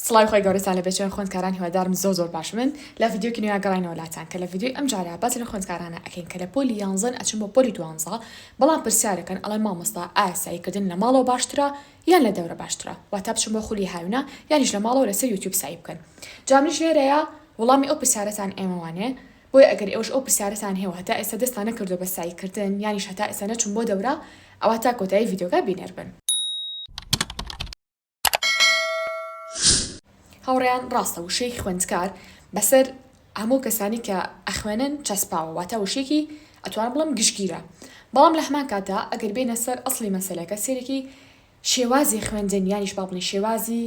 سڵاوی خوای گەورەتان لەبێت چۆنن خوێندکاران هیوادارم زۆر زۆر باشبن لە ڤیدیۆکی نوێیا گەڕاینەوە لاتان کە لە ڤیدیۆی ئەمجارە باسی لە خوێندکارانە ئەکەین کە لە پۆلی یانزەن ئەچن بۆ پۆلی دوانزە بەڵام پرسیارەکەن ئەڵێن مامۆستا ئایا سەعیکردن لە ماڵەوە باشترە یان لە دەورە باشترە واتا بچن بۆ خولی هاوینە یانیش لە ماڵەوە لەسەر یوتیوب سەعی بکەن جا منیش لێرەیا وڵامی ئەو پرسیارەتان ئێمەوانێ بۆیە ئەگەر ئێوەش ئەو پرسیارەتان هەیە و هەتا ئێستا دەستان نەکردووە بە سەعیکردن یانیش هەتا ئێستا نەچوون بۆ دەورە ئەوا تا کۆتایی ڤیدیۆکە بینەربن. هاوڕێیان ڕاستە وشەی خوێندکار بەسەر هەموو کەسانی کە ئەخوێنن چەسپاوە واتە وشێکی ئەتوان بڵم گشتگیرە بەڵام لە هەمان کاتا ئەگەر بێنە سەر ئەسلی مەسلەکە سێرەکی شێوازی خوێندن یانیش بابنی شێوازی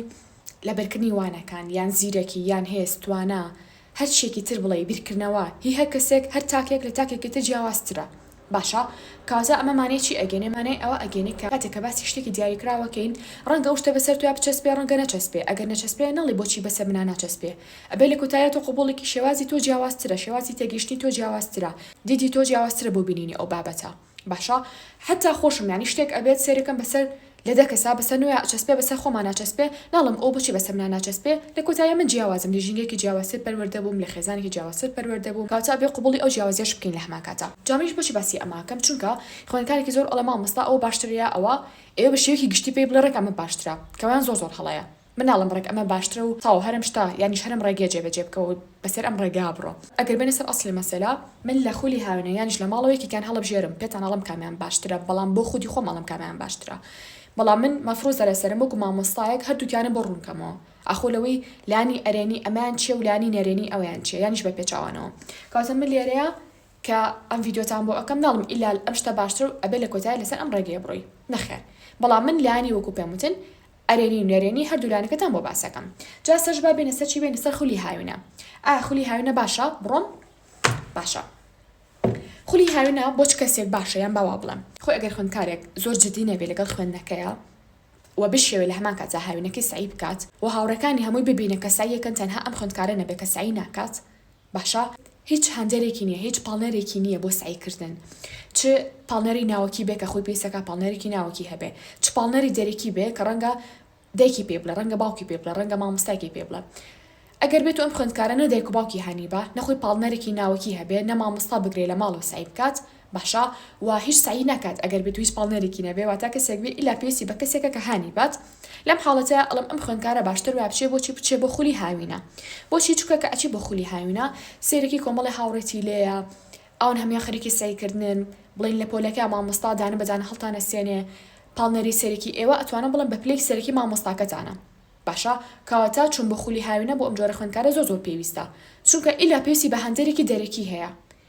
لەبەرکردنی وانەکان یان زیرەکی یان هێستوانە هەر چیەکی تر بڵێی بیرکردنەوە هی هەر کەسێک هەر تاکێک لە تاکێکی تر جیاوازترە باشە کاوزە ئەمە مانای چی ئەگەنێ مانای ئەوە ئەگەنێ کە کاتێک کە باسی شتێکی دیاریکراوە کەین ڕەنگە ئەو شتە بەسەر تۆیا بچەسپێ ڕەنگە نەچەسپێ ئەگەر نەچەسپێ نەڵی بۆچی بەسەر منا ناچەسپێ ئەبێ لە کۆتاییا تۆ قبوڵیکی شێوازی تۆ جیاوازترە شێوازی تێگەیشتنی تۆ جیاوازترە دیدی تۆ جیاوازترە بۆ بینینی ئەو بابەتە باشە حەتا خۆشم یانی شتێک ئەبێت سێرەکەم بەسەر لە دە کەسا بەسەر نۆیا ئەچەسپێ بەسەر خۆما ناچەسپێ ناڵێم ئۆ بۆچی بەسەر منا ناچەسپێ لە کۆتاییا من جیاوازم لە ژینگەیەکی جیاوازتر پەروەردە بووم لە خێزانێکی جیاوازتر پەروەردە بووم کەواتە ئەبێ قبوڵی ئەو جیاوازیەش بکەین لە هەمان کاتا جا منیش بۆچی باسی ئەمە ئەکەم چونکە خوێندکارێکی زۆر ئەڵێ مامۆستا ئەوە باشترە یا ئەوە ئێوە بە شێوەیەکی گشتی پێی بڵێ ڕێک ئەمە باشترە کەوایان زۆر زۆر هەڵەیە. مناڵم ڕێک ئەمە باشترە و تاو هەرم شتە یانیش هەرم ڕێگە جێ بەجێ بکەوە و بەسەر ئەم ڕێگا بڕۆ. ئەگەر بێنە سەر ئەسڵی مەسەلە من لە خولی هاوێنە یانیش لە ماڵەوە یەکێکیان هەڵەبژێرم پێتان ئەڵێم کامیان باشترە بەڵام بۆ خودی خۆم ئەڵێم کامیان باشترە بەڵام من مەفروزە لەسەرم وەکو مامۆستایەک هەردووکیانم بۆ ڕوون کەمەوە ئاخۆ لەوەی لانی ئەرێنی ئەمەیان چیە و لانی نەرێنی ئەویان چیە یانیش بە پێچاوانەوە کەواتە من لێرەیە کە ئەم ڤیدیۆتان بۆ ئەکەم ناڵم ئیلا ئەم شتە باشترە و ئەبێ لە کۆتای لەسەر ئەم ڕێگەیە بڕۆی نەخێر بەڵام من لانی وەکو پێم وتن ئەرێنی و نەرێنی هەردوو لایەنەکەتان بۆ باس ئەکەم جا سەرش با بێینە سەر چی بێینە سەر خولی هاوینە ئایا خولی هاوینە باشە بڕۆم باشە خولی هاوینە بۆ چ کەسێک باشە یان باوا بڵێم خۆ ئەگەر خوێندکارێک زۆر جدی نەبێ لەگەڵ خوێندنەکەیە و بشێوێ لە هەمان کاتدا هاوینەکەی سەعی بکات و هاوڕێکانی هەمووی ببینن کە سەعیەکەن تەنها ئەم خوێندکارە نەبێ کە سەعی ناکات باشە هیچ هاندەرێکی نیە هیچ پاڵنەرێکی نیە بۆ سەعی کردن چ پاڵنەری ناوەکی بێ کە خۆی پێویستە کە پاڵنەرێکی ناوەکی هەبێ چ پاڵنەری دەرەکی بێ کە ڕەنگە دایکی پێ بڵێ ڕەنگە باوکی پێ بڵێ ڕەنگە مامۆستایکی پێ بڵێ ئەگەر بێتو ئەم خوێندکارە نە دایک و باوکی هانی با نەخۆی پاڵنەرێکی ناوەکی هەبێ نە مامۆستا بگرێ لە ماڵەوە سەعی بکات باشە وا هیچ سەعی ناکات ئەگەر بێت و هیچ پاڵنێرێکی نەبێ واتا کەسێک بێ ئیلا پێویستی بە کەسێکە کە هانی بات لەم حاڵەتەیا ئەڵێم ئەم خوێندکارە باشتر وایە بچێ بۆچی بچێ بۆ خولی هاوینە بۆچی چونکە کە ئەچی بۆ خولی هاوینە سەیرێکی کۆمەڵی هاوڕێتی لێیە ئەوان هەموان خەریکی سەیکردنن بڵێن لە پۆلەکە مامۆستا دانە بە دانە هەڵتانەسێنێ پاڵنێری سەرەکی ئێوە ئەتوانم بڵێم بە پلەی سەرەکی مامۆستاکەتانە باشە کەواتە چوون بۆ خولی هاوینە بۆ ئەم جۆرە خوێندکارە زۆر زۆر پێویستە چونکە ئیلا پێویستی بە هاندەرێکی دەرەکی هەیە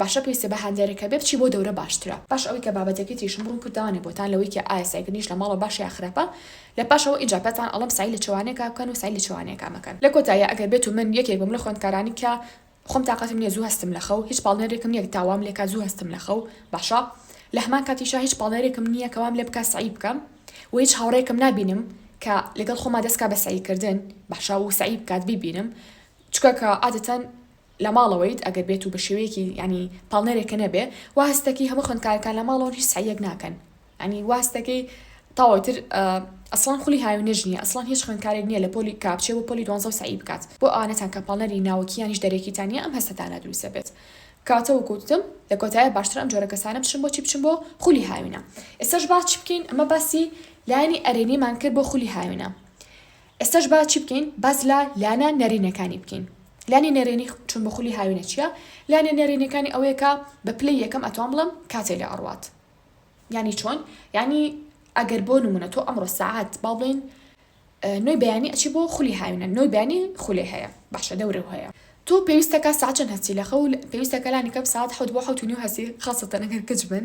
باشە پێویستە بە هاندەرەکە بێ بچی بۆ دەورە باشترە. باش ئەوەی کە بابەتەکەی تریشم ڕوون کردەوانێ بۆتان لەوەی کە ئایا سەعیکردنیش لە ماڵەوە باشە یا خراپە لە پاشەوە ئینجا پێتان ئەڵێم سەعی لە چوانێکا بکەن و سەعی لە چوانێکا مەکەن. لە کۆتاییا ئەگەر بێتو من یەکێک بم لە خوێندکارانی کە خۆم تاقەتم نیە زوو هەستم لە خەو هیچ پاڵنێرێکم نیە تا وام لێکات زوو هەستم لە خەو باشە لە هەمان کاتیشا هیچ پاڵنێرێکم نیە کە وام لێ بکات سەعی بکەم و هیچ هاوڕێیەکم نابینم کە لەگەڵ خۆما دەست کا بە سەعیکردن باشە و سەعی بکات بیبینم چونکە کە عادەتەن لە ماڵەوەیت ئەگەر بێت و بە شێوەیەکی یانی پاڵنەرێک کە نەبێ وا هەست دەکەی هەموو خوێندکارەکان لە ماڵەوەن هیچ سەعیەک ناکەن یانی وا هەست دەکەی تەواو ئیتر ئەسڵەن خولی هاوینەش نییە ئەسڵەن هیچ خوێندکارێک نییە لە پۆلی کە بچێ بۆ پۆلی دوانزە و سەعی بکات بۆ ئەوانەتان کە پاڵنەری ناوەکییانیش دەرەکیتان نییە ئەم هەستەتانە دروست دەبێت کەواتە وەکوو وتم لە کۆتاییا باشترە ئەم جۆرە کەسانە بچن بۆچی بچن بۆ خولی هاوینە ئێستاش با چی بکەین ئەمە باسی لایەنی ئەرێنیمان کرد بۆ خولی هاوینە ئێستاش با چی بکەین باس لە لانە نەرێنیەکانی بکەین لانی نەرێنی چون بە خولی هاوینە چیە لانە نەرێنیەکانی ئەوەیە کە بە پلەی یەکەم ئەتوان بڵێم کاتێ لێ ئەڕوات یانی چۆن یانی ئەگەر بۆ نمونە تۆ ئەمڕۆ سعات با بڵێن نوێی بەیانی ئەچی بۆ خولی هاوینە نوێی بەیانی خولێ هەیە باشە دەورە هەیە تۆ پێویستەکە ساچەند هەستی لە خەول پێویستەکەلانی کەم ساعت حوت بۆ حوت و نیو هەستی خاستەنەگەر کچ بن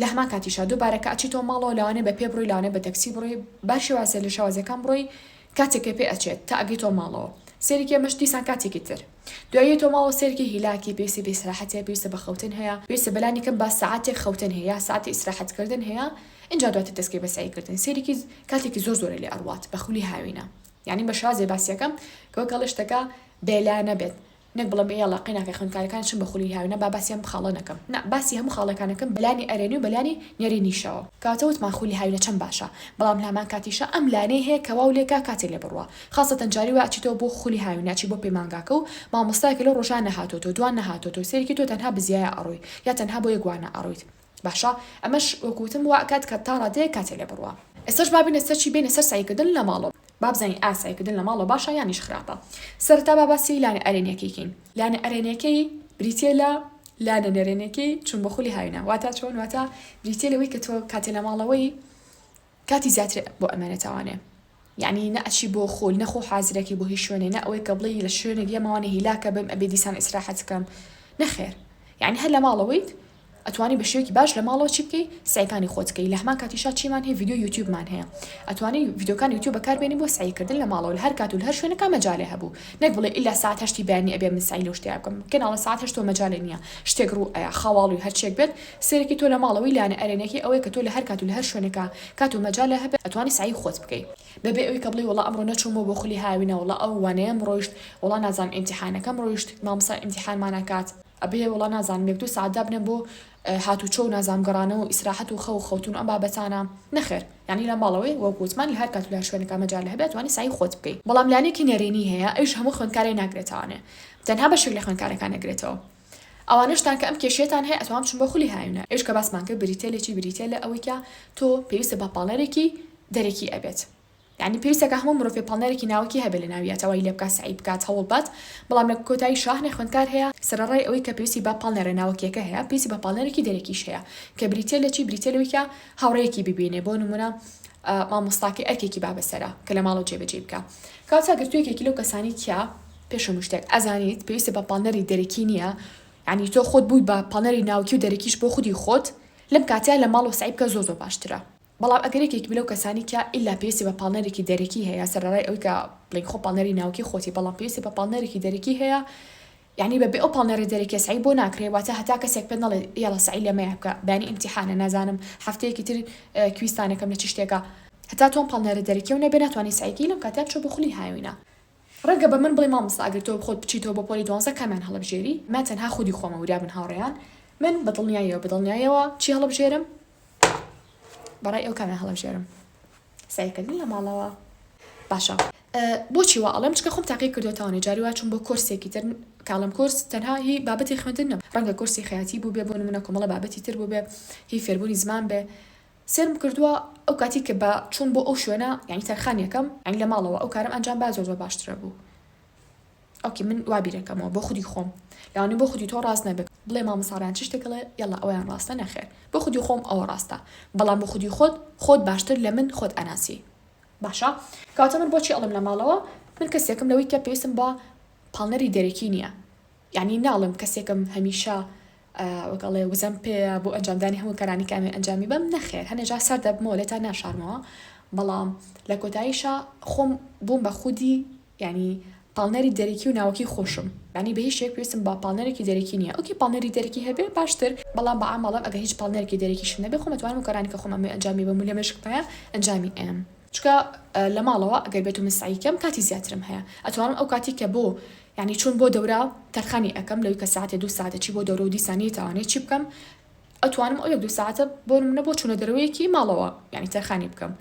لەهەمان کاتیشا دووبارە کە ئەچیتەوە ماڵەوە لەوانەیە بە پێ بڕۆی لەوانەیە بە تەکسی بڕۆی بە شێوازێ لە شێوازەکان بڕۆی کاتێ کە پێ ئەچێت تا ئەگەیتەوە ماڵەوە سەیرێکی ئەمەش دیسان کاتێکی تر دوای یەتەوە ماڵەوە سەیرێکی هیلاکی پێویستی بە ئیسراحەت هەیە پێویستە بە خەوتن هەیە پێویستە بە لانی کەم با سەعاتێک خەوتن هەیە یا سەعاتی ئیسراحەت کردن هەیە ئینجا دواتر دەسکەی بە سەعی کردن سەیرێکی کاتێکی زۆر زۆرە لێ ئەڕوات بە خولی هاوینە یانی بە شێوازێ باسی ئەکەم کە وەک ئەڵێ شتەکە بێ لا نەبێت نەک بڵێم ئێ یەڵا قەیناکە خوێندکارەکانت چن بە خولی هاوێنە با باسی ئەم خاڵە نەکەم نا باسی هەموو خاڵەکانەکەم بەلانی ئەرێنی و بەلانی نەرێنیشەوە. کەواتە وتمان خولی هاوینە چەند باشە بەڵام لەهەمان کاتیشا ئەم لانەی هەیە کە واو لێکا کاتێ لێ بڕوا خاسەتەن جاری وا ئەچیتەوە بۆ خولی هاوینە ئەچی بۆ پەیمانگاکە و مامۆستایەکە لەو ڕۆژە نەهاتۆتەوە دوان نەهاتۆتەوە سەیرێکی تۆ تەنها بزیایە ئەڕۆی یا تەنها بۆ یەک وانە ئەڕۆیت باشە ئەمەش وەک وتم وا ئەکات کە تا ڕادەیەک کاتێ لێ بڕوا. ئێستاش با بێینە سەر چی بێینە سەر سەعی کردن لە ماڵۆ با بزانین ئایا سەعی کردن لە ماڵۆ باشە یانیش خراپە سەرەتا با باسی لانە ئەرێنیەکەی کەین لانە ئەرێنیەکەی بریتیە لە لانە نەرێنیەکەی چون بە خولی هاوینە واتا چۆن واتا بریتیە لەوەی کە تۆ کاتێ لە ماڵەوەی کاتی زیاتر بۆ ئەمێنێتەوانێ یەعنی نە ئەچی بۆ خول نە خۆ حازرەکەی بۆ هیچ شوێنێ نە ئەوەی کە بڵێی لە شوێنێک یەماوانێ هیلاکە بم ئەبێ دیسان ئیسراحەت کەم نەخێر یەعنی هەر لە ماڵەوەیت ئەتوانی بە شێوەیەکی باش لە ماڵەوە چی بکەی سەعیکانی خۆت بکەی لە هەمان کاتیشا چیمان هەیە ڤیدیۆی یوتیوبمان هەیە ئەتوانی ڤیدیۆکانی یوتیوب بەکاربێنی بۆ سەعیکردن لە ماڵەوە لە هەر کات و لە هەر شوێنێکا مەجالێ هەبوو نەک بڵێی ئیلا سەعات هەشتی بەیانی ئەبێ من سەعی لەو شتەیە بکەم کەناڵە سەعات هەشتەوە مەجالێ نییە شتێک ڕوو ئەیا خەواڵووی هەرچییەک بێت سەیرێکی تۆ لە ماڵەوەی لانە ئەرێ نەکەی ئەوەیە کە تۆ لە هەر کات و لە هەر شوێنێکا کات و مەجالە هەبێ ئەتوانی سەعی خۆت بکەی بە بێ ئەوی کە بڵێی وەڵا ئەمڕۆ نەچوومەوە بۆ خولی هاوی نا وەڵا ئەو وانەیەم ڕۆیشت وەڵا نازانم ئیمتیحانەکەم ڕۆیشت مامۆستا ئیمتیحانمان ئەکات ئەبێ وەڵا نازانم یەک دوو سەعات دابنێم بۆ هاتوچۆ و نازانم گەڕانەوە و ئیسراحەت و خەو و خەوتن و ئەم بابەتانە نەخێر یانی لە ماڵەوەی وەک وتمان لە هەر کات و لە هەر شوێنێکا مەجالە هەبێ ئەتوانی سەعی خۆت بکەی بەڵام لانەیەکی نەرێنی هەیە ئەویش هەموو خوێندکارێ ناگرێتەوانێ تەنها بەشێک لە خوێندکارەکان ئەگرێتەوە ئەوانەشتان کە ئەم کێشەیەتان هەیە ئەتوان بچن بۆ خولی هاوینە ئەویش کە باسمان کرد بریتیە لە چی بریتیە لە ئەوەی کە تۆ پێویستە بە پاڵنەرێکی دەرەکی ئەبێت یانی پێویستە کە هەموو مرۆڤێ پاڵنەرێکی ناوەکی هەبێت لە ناویا تەوای لێ بکات سەعی بکات هەوڵ بات بەڵام لە کۆتایی شاهنێ خوێندکار هەیە سەرەڕای ئەوەی کە پێویستی بە پاڵنەرە ناوەکیەکە هەیە پێویستی بە پاڵنەرێکی دەرەکیش هەیە کە بریتیە لە چی بریتیە لەوەی کە هاوڕێیەکی ببینێ بۆ نمونە مامۆستاکەی ئەرکێکی بابەسەرە کە لە ماڵەوە جێبەجێی بکا کەواتە گرتوویەکێکی لەو کەسانی تیا پێش هەموو شتێک ئەزانیت پێویستە بە پاڵنەری دەرەکی نییە یانی تۆ خۆت بووی بە پاڵنەری ناوکی و دەرەکیش بۆ خودی خۆت لەم کاتەیا لە ماڵەوە سەعی بکە زۆر زۆر باشترە بەڵام ئەگەر یەکێک بی لەو کەسانی کە ئیلا پێویستی بە پاڵنەرێکی دەرەکی هەیە سەرەڕای ئەوەی کە بڵێین خۆ پاڵنەری ناوکی خۆتی بەڵام پێویستی بە پاڵنەرێکی دەرەکی هەیە یانی بە بێ ئەو پاڵنەرە دەرەکیە سەعی بۆ ناکرێ واتە هەتا کەسێک پێت نەڵێ یاڵا سەعی لە مەیە بکە بەیانی ئیمتیحانە نازانم هەفتەیەکی تر کویزتانەکەم لە چ شتێکە هەتا تۆ ئەم پاڵنەرە دەرەکیەو نەبێ ناتوانی سەعی کەی لەم کاتەیا بچۆ بۆ خولی هاوینە ڕەنگە بە من بڵێی مامۆستا ئەگەر تۆ خۆت بچیتەوە بۆ پۆلی دوانزە کامیان هەڵەبژێری؟ من تەنها خودی خۆمە وریا بن هاوڕێیان من بە دڵنیاییەوە بە دڵنیاییەوە چی هەڵەبژێرم؟ بە ڕای ئێوە کامیان هەڵەبژێرم؟ سەیرکردن لە ماڵەوە باشە. بۆچی وا ئەڵێم چکە خۆم تاقی کردۆتەوەێ جاری وا چوم بۆ کۆرسێکی تر کاڵم کۆرس تەنها هی بابەتی خوێندن نەم ڕەنگە کۆرسی خەیاتی بووبێ بۆ نمونە کۆمەڵە بابەتی تر بووبێ هی فێربوونی زمان بێ سێرم کردوە ئەو کاتی کە بە چوم بۆ ئەو شوێنە یانی تەرخان یەکەم یانی لە ماڵەوە ئەو کارەم ئەنجام با زۆر زۆر باشترە بوو ئۆکەی من وا بیرەکەمەوە بۆ خودی خۆم لەوانی بۆ خودی تۆ ڕاست نەبێت بڵێ مامۆستا ڕەیان چ شتێک ئەڵێ یەڵا ئەوەیان ڕاستە نەخێر بۆ خودی خۆم ئەوە ڕاستە بەڵام بۆ خودی خۆت خۆت باشتر لە من خۆت ئەناسی باشە کەواتە من بۆچی ئەڵێم لە ماڵەوە من کەسێکم لەوەی کە پێویستم بە پاڵنەری دەرەکی نییە یانی ناڵێم کەسێکم هەمیشە وەک ئەڵێ وزەم پێیە بۆ ئەنجامدانی هەموو کارانی کامێ ئەنجامی بەم نەخێر هەنێجا سەر دەبمەوە لێتا ناشارمەوە بەڵام لە کۆتاییشا خۆم بووم بە خودی یعنی پاڵنەری دەرەکی و ناوەکی خۆشم ینی بە هیچ شێک پێویستم بە پاڵنەرێکی دەرەکی نییە ئۆکی پاڵنەری دەرەکی هەبێ باشتر بەڵام بە عامەڵم ئەگەر هیچ پاڵنەرێکی دەرەکیشم نەبێ خۆم ئەتوانم کارانی کە خۆم ئەمێ ئەنجامی بەم و لەمێشکمایە ئەنجامی ئەیەم چونکە لە ماڵەوە ئەگەر بێتو من سەعی کەم کاتی زیاترم هەیە ئەتوانم ئەو کاتی کە بۆ یانی چون بۆ دەورە تەرخانی ئەکەم لەوی کە سەعاتێ دوو سەعاتە چی بۆ دەورە و دیسان نیتاوانی چی بکەم ئەتوانم ئەو یەک دوو سەعاتە بۆ نمونە بۆ چونە دەرەوەیەکی ماڵەوە یانی تەرخانی بکەم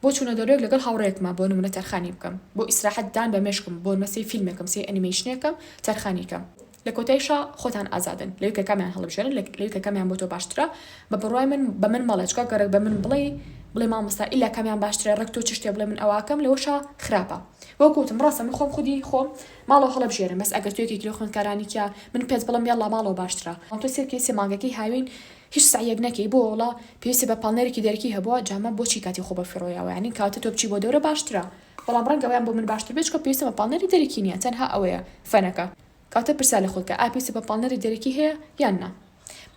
بۆ چونە دەرەوەیەک لەگەڵ هاوڕێیەکما بۆ نمونە تەرخانی بکەم بۆ ئیسراحەت دان بە مێشکم بۆ نمە سەی فیلمێکم سەی ئەنیمەیشنێکم تەرخانی کەم لە کۆتایشا خۆتان ئازادن لەوی کە کامیان هەڵبژێرن لە لەوی کە کامیان بۆ تۆ باشترە بە بڕوای من بە من مەڵێ چکا گەڕەک بە من بڵێی بڵێ مامۆستا ئیلا کامیان باشترە ڕێک تۆ چ شتێ بڵێ من ئەوە ئەکەم لەوەشا خراپە وەکو وتم ڕاستە من خۆم خودی خۆم ماڵەوە هەڵەبژێرم بەس ئەگەر تۆ یەکێکی لەو خوێندکارانی تیا من پێت بڵێم یەڵڵا ماڵەوە باشترە بەڵام تۆ سێر کەی سێ مانگەکەی هاوین هیچ سەعیەک نەکەی بۆ وەڵا پێویستە بە پاڵنەرێکی دەرەکی هەبووە جا مە بۆچی کاتی خۆ بە فڕۆیاوە یانی کاتە تۆ بچی بۆ دەورە باشترە. بەڵام ڕەنگە ئەویان بۆ من باشتر بێت چونکە پێویستم بە پاڵنەری دەرەکی نییە تەنها ئەوەیە فەنەکە. کەواتە پرسیار لە خۆت کە ئایا پێویستت بە پاڵنەری دەرەکی هەیە یان نا؟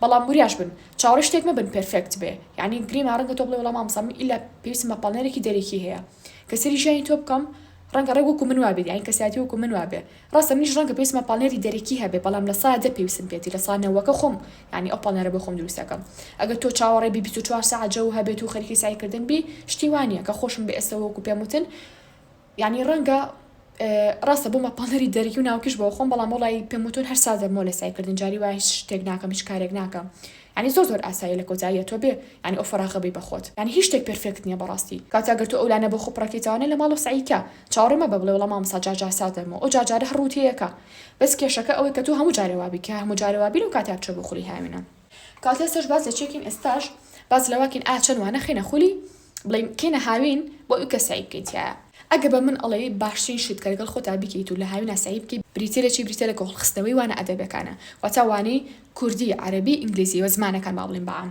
بەڵام وریاش بن چاوەڕێی شتێک مەبن پێرفێکت بێ یانی گریمە ڕەنگە تۆ بڵێی وەڵا مامۆستا من ئیلا پێویستم بە پاڵنەرێکی دەرەکی هەیە کە سەیری ژیانی تۆ بکەم ڕەنگە ڕێک وەکو من وابێت یانی کەسایەتی وەکو من وابێ ڕاستە منیش ڕەنگە پێویستمە پاڵنێری دەرەکی هەبێ بەڵام لە سایە دە پێویستم پێتی لە سا نەوەکە خۆم یانی ئەو پاڵنێرە بۆ خۆم دروست ئەکەم ئەگەر تۆ چاوەڕێ بی بیست و چوار سەعات جەو هەبێت و خەریکی سەعی کردن بی شتی وا نیە کە خۆشم بە ئێستە وەکو پێم وتن یانی ڕەنگە ڕاستە بۆمە پاڵنێری دەرەکی و ناوکیش بۆ خۆم بەڵام وڵی پێم وتون هەر سا دەبمەوە لە سای کردن جاری وای هیچ شتێک ناکەم هیچ کارێک ناکەم یانی زۆر زۆر ئاساییە لە کۆتاییە تۆ بێ یانی ئەو فەراغە بی بە خۆت یانی هیچ شتێک پێرفێکت نیە بەڕاستی کاتە گەر تۆ ئەو لانە بۆ خۆ پڕەکەیتەوە نە لە ماڵ و سەعی کە چاوەڕێ مەبە بڵێ وەڵا مامۆستا جار جار سات دەبمەوە ئەو جار جارە هەر ڕووت یەکە بەس کێشەکە ئەوەی کە تۆ هەموو جارێ وابی کە هەموو جارێ وابی لەو کاتەیا بچۆ بۆ خولی هاوینە کات ئێستاش باس لە چێکین ئێستاش باس لەواکین ئا چەن وانە خینە خولی بڵین کینە هاوین بۆ ئیو کە سەعی بکەی تیایا ئەگە بە من ئەڵێی باشترین شت کە لەگەڵ خۆتا بیکەیت و لە هاوینا سەعی بکەی بریتیە لە چی بریتیە لە کۆڵ خستنەوەی وانە ئەدەبێکانە واتا وانەی کوردی عەرەبی ئینگلیزی وە زمانەکان با بڵین بە عام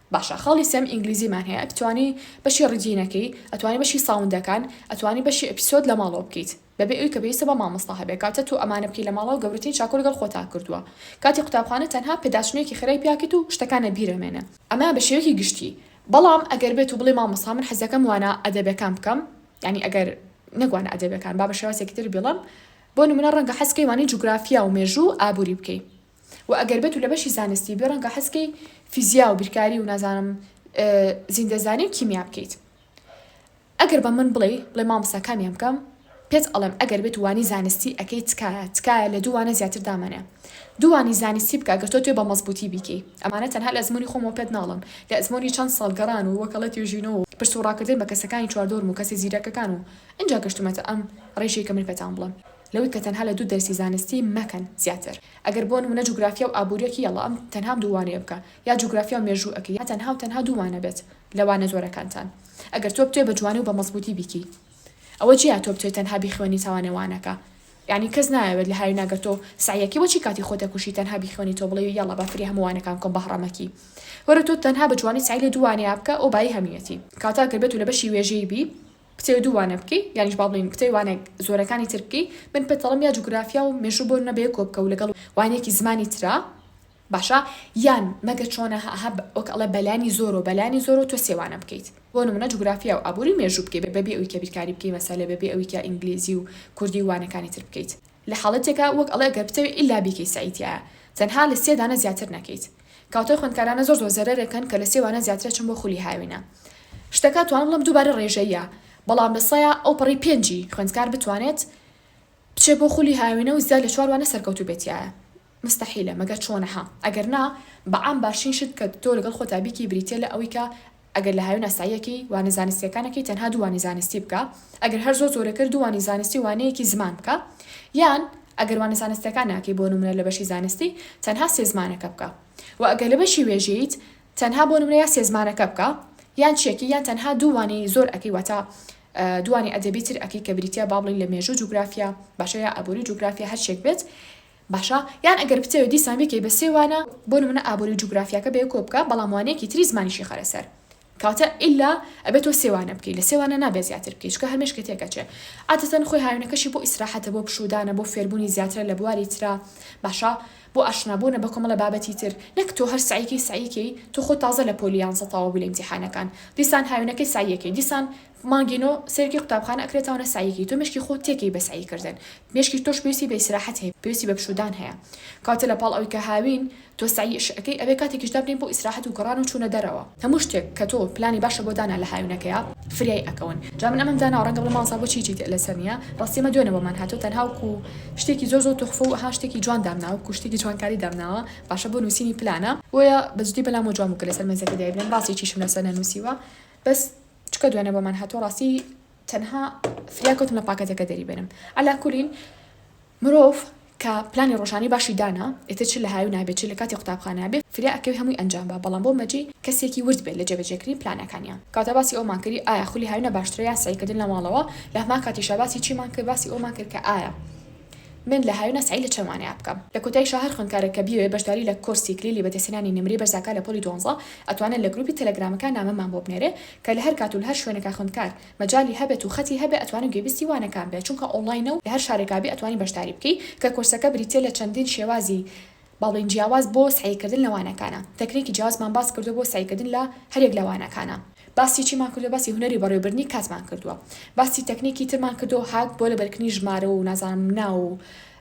باشە خاڵی سێم ئینگلیزیمان هەیە ئەتوانی بەشی ڕیدینە کەی ئەتوانی بەشی ساوندەکان ئەتوانی بەشی ئەپیسۆد لە ماڵەوە بکەیت بەبێ ئەوی کە پێویستە بە مامۆستا هەبێ کاتە تۆ ئەمانە بکەی لە ماڵەوە گەورەترین چاکو لەگەڵ خۆتا کردوە کاتی قوتابخانە تەنها پێداچونێکی خێرای پیاکەیت و شتەکان لە بیرە مێنە ئەمە بە شێوەکی گشتی بەڵام ئەگەر بێت و بڵێ مامۆستا من حەزەکەم وانە ئەدەبەکان بکەم یانی ئەگەر نەک وانە ئەدەبەکان با بە شێوازێکی تر بیڵێم بۆ نمونە ڕەنگە حەز کەی وانەی جوگرافیا و مێژوو ئابوری بکەی وە ئەگەر بێتو لە بەشی زانستی بی ڕەنگە حەز کەی فیزیا و بیرکاری و نازانم زیندەزانی و کیمیا بکەیت ئەگەر بە من بڵێی بڵێ مامۆستا کامیان بکەم پێت ئەڵێم ئەگەر بێت وانی زانستی ئەکەی تکایە تکایە لە دوو وانە زیاتر دامەنێ دوو وانی زانستی بکە گەر تۆ توێ بە مەزبووتی بیکەی ئەمانە تەنها لە ئەزموونی خۆمەوە پێت ناڵێم لە ئەزموونی چەند ساڵ گەڕان و وەکەڵە توێژینەوە و پرس و ڕاکردن بە کەسەکانی چواردۆرم و کەسە زیرەکەکان و ئینجا گەشتومەتە ئەم ڕێژەی کە من پێتان بڵێم. لەوەی کە تەنها لە دوو دەرسی زانستی مەکەن زیاتر ئەگەر بۆ نمونە جوگرافیا و ئابوریەکی یەڵا ئەم تەنها ئەم دوو وانەیە بکە یا جوگرافیا و مێژوو ئەکەی یا تەنها و تەنها دوو وانە بێت لە وانە زۆرەکانتان ئەگەر تۆ بتوێ بە جوانی و بە مەزبوتی بیکەی ئەوە جیا تۆ بتوێ تەنها بیخوێنیتەوە نێو وانەکە یانی کەس نایەوێت لە هاوینا گەر تۆ سەعیەکی بۆچی کاتی خۆت ئەکوژی تەنها بیخوێنیتەوە بڵێی یەڵا با فری هەموو وانەکان بکەم بەهڕەمەکی وەرە تۆ تەنها بە جوانی سەعی لە دوو وانەیە بکە ئەو بایی هەمویەتی کاتە ئەگەر بێتو لە بەشی وێژەی بی کتێو دوو وانە بکەی یانیش با بڵێین کتێو وانە زۆرەکانی تر بکەی من پێت دەڵێم یا جوگرافیا و مێژوو بۆ نمونە بەیەکۆ بکە و لەگەڵ وانەیەکی زمانی ترا باشە یان مەگە چۆنە هە هە وەک ئەڵێ بەلانی زۆرۆ بەلانی زۆرۆ تۆ سێ وانە بکەیت بۆ نمونە جوگرافیا و ئابوری و مێژوو بکەی بەبێ ئەوی کە بیرکاری بکەی مەسەلە بەبێ ئەوی کە ئینگلیزی و کوردی و وانەکانی تر بکەیت. لە حاڵەتێکا وەک ئەڵێ گەر بتەوێ ئیلا بیکەی سەعی تیایە تەنها لە سێ دانە زیاتر نەکەیت کاوتای خوێندکارانە زۆر زۆر زەرەرێکەن کە لە سێ وانە زیاترە چن بۆ خولی هاوینە شتەکە توانم بڵێم دووبارە ڕێژەییە بەڵام لە سەیا ئەو پەڕی پێنجی خوێندکار بتوانێت بچێ بۆ خولی هاوینە و زیاد لە چوار وانە سەرکەوتوو بێت تیایە مستەحیلە مەگەر چۆنە ها ئەگەر نا بەعام باشترین شت کە تۆ لەگەڵ خۆتا بیکەی بریتیە لە ئەوەی کە ئەگەر لە هاوێن ئاساییەکەی وانە زانستییەکانەکەی تەنها دوو وانەی زانستی بکا، ئەگەر هەر زۆر زۆرە کرد دوو وانەی زانستی و وانەیەکی زمان بکا، یان ئەگەر وانە زانستییەکان ناکەی بۆ نمونە لە بەشی زانستی تەنها سێ زمانەکە بکا و ئەگەر لە بەشی وێژەییت تەنها بۆ نمونە یا سێ زمانەکە بکا یان چیەکی یان تەنها دوو وانەی زۆر ئەکەی واتە دوو وانەی ئەدەبی تر ئەکەی کە بریتیە با بڵێی لە مێژوو جوگرافیا باشە یا ئابوری جوگرافیا هەرچیەک بێت باشە یان ئەگەر بتەوێ دیسان بیکەی بە سێ وانە بۆ نمونە ئابوری و جوگرافیاکە بە یەکەوە بکە بەڵام وانەیەکی تری زمانیشی خەرە سەر کەواتە ئیلا ئەبێ تۆ سێ وانە بکەی لە سێ وانە نابێ زیاتر بکەی چونکە هەر مێشکت تێک ئەچێ عادەتەن خۆی هاوینەکەشی بۆ ئیسراحەتە بۆ پشوودانە بۆ فێربوونی زیاترە لە بواری ترا باشە بۆ ئاشنابوونە بە کۆمەڵە بابەتی تر نەک تۆ هەر سەعیکەی سەعیکەی تۆ خۆت تازە لە پۆلی یانزە تەواو بووی لە ئیمتیحانەکان دیسان هاوینەکەی سەعیەکەی دیسان مانگی نۆ سەیرکی قوتابخانە ئەکرێتەوەە سەعیەکی تۆ مێشکی خۆت تێکەی بە سەعی کردن مێشکی تۆش پێویستی بە ئیسراحەت هەیە پێویستی بە پشوودان هەیە کەواتە لە پاڵ ئەوەی کە هاوین تۆ سەعی ئش ئەکەی ئەبێ کاتێکیش دابنێی بۆ ئیسراحەت و گەڕان و چوونە دەرەوە هەموو شتێک کە تۆ پلانی باشە بۆ دانا لە هاوینەکەیا فریای ئەکەون جا من ئەمەم داناوە ڕەنگە بڵێ مامۆستا بۆچی هیچی تئ لەسەر نییە ڕاستی ئمە دوێنە بۆمان هاتووە تەنها وەکو شتێکی زۆر زۆر توخفە و ئەها شتێکی جوان دامناوە وەکو شتێکی جوانکاری دامناوە باشە بۆ نووسینی پلانە بۆیە بەجدی بەلام وە جوان بوو کە لەسەر مێزەکە دایبنێم ڕاستی چیشم لەسەر نەنووسیوە بەس چکە دوێنێ بۆمان هاتوە ڕاستی تەنها فریا کەوتم لە پاکەتەکە دەری بێنم علا کولین مرۆڤ کە پلانی ڕۆژانی باشی دانا ئێتر چ لە هاوی نابێت چ لە کاتی قوتابخانە بێ فریا ئەکەوی هەمووی ئەنجام با بەڵام بۆ مەجی کەسێکی ورد بێت لە جێبەجێکردنی پلانەکانیا کەواتە باسی ئەومان کردی ئایا خولی هاوینە باشترە یان سەعیکردن لە ماڵەوە لە هەمان کاتیشا باسی چیمان کرد باسی ئەومان کرد کە ئایا من لە هاوینە سەعی لە چەند وانەیە بکەم. لە کۆتایی شا هەر خوێندکارێک کە بیەوێ بەشداری لە کۆرسی کلیلی بەدەستهێنانی نمرەی بەرز ئەکا لە پۆلی دوانزە ئەتوانێ لە گروپی تەلەگرامەکە نامەمان بۆ بنێرێ کە لە هەر کات و لە هەر شوێنێکا خوێندکار مەجالی هەبێت و خەتی هەبێ ئەتوانێ گوێبیستی وانەکان بێ چونکە ئۆنڵاینە و لە هەر شارێکا بی ئەتوانی بەشداری بکەی کە کۆرسەکە بریتیە لە چەندین شێوازی باڵین جیاواز بۆ سەعی کردن لە وانەکانە. تەکنیکی جیاوازمان باس کردووە بۆ سەعی کردن لە هەریەک لە وانەکانە. باسی چیمان کردووە؟ باسی هونەری بەڕێوەبردنی کاتمان کردووە. باسی تەکنیکی ترمان کردووە هاک بۆ لەبەرکردنی ژمارە و نازانم ناو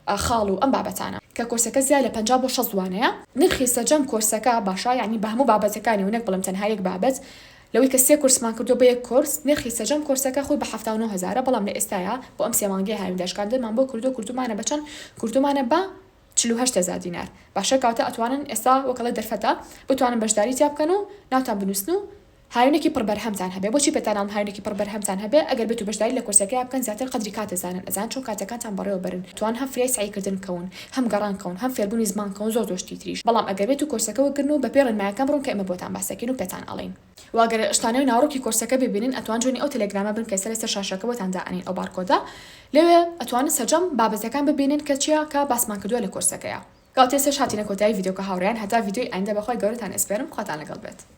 و خاڵ و ئەم بابەتانە. کە کۆرسەکە زیاد لە پەنجا بۆ شەست وانەیە. نرخی سەرجەم کۆرسەکە باشە یانی بە هەموو بابەتەکانی و نەک بڵێم تەنها یەک بابەت لەوەی کە سێ کورسمان کردووە بە یەک کۆرس نرخی سەرجەم کۆرسەکە خۆی بە حەفتا و نۆ هەزارە بەڵام لە ئێستایا بۆ ئەم سێ مانگەی هاوین داشکاندنمان بۆ کردووە کردوومانە بە چەند کردوومانە بە چل و هەشت هەزار دینار باشە کەواتە ئەتوانن ئێستا وەک ئەڵێ دەرفەتە بتوانن بەشداری تیا بکەن و ناوتان بنووسن و هاوینێکی پڕ بەرهەمتان هەبێ بۆچی پێتاناڵم هاوینێکی پڕ بەرهەمتان هەبێ ئەگەر بێتو بەشداری لە کۆرسەکەیا بکەن زیاتر قەدری کات ئەزانن ئەزانن چۆن کاتەکانتان بەڕێوە بەرن توان هەم فریای سەعی کردن بکەون هەم گەڕان کەون هەم فێربونی زمان کەون زۆر زۆر شتی تریش بەڵام ئەگەر بێتو کۆرسەکە وەک گرن و بەپێی ڕێنمایەکان بڕۆن کە ئێمە بۆتان باسەکەین و پێتان ئەڵێین وە گەر شتانەوەی ناوەڕۆکی کۆرسەکە ببینن ئەتوان جوێنی ئەو تێلێگرامە بنکەی سەرە سەر شاشەکە بۆتان دائەنین ئەو بارکۆدە لەوێ ئەتوانن سەرجەم بابەتەکان ببینن کە چیا کە باسمان کردوە لە کۆرسەکەیا. گاڵتەی سێش هاتینە کۆتایی ڤیدیۆکە هاوڕێیان هەتا ڤیدیۆی ئایندە بەخوای گەورەتان ئەسپێرم خواتان لەگەڵ بێت.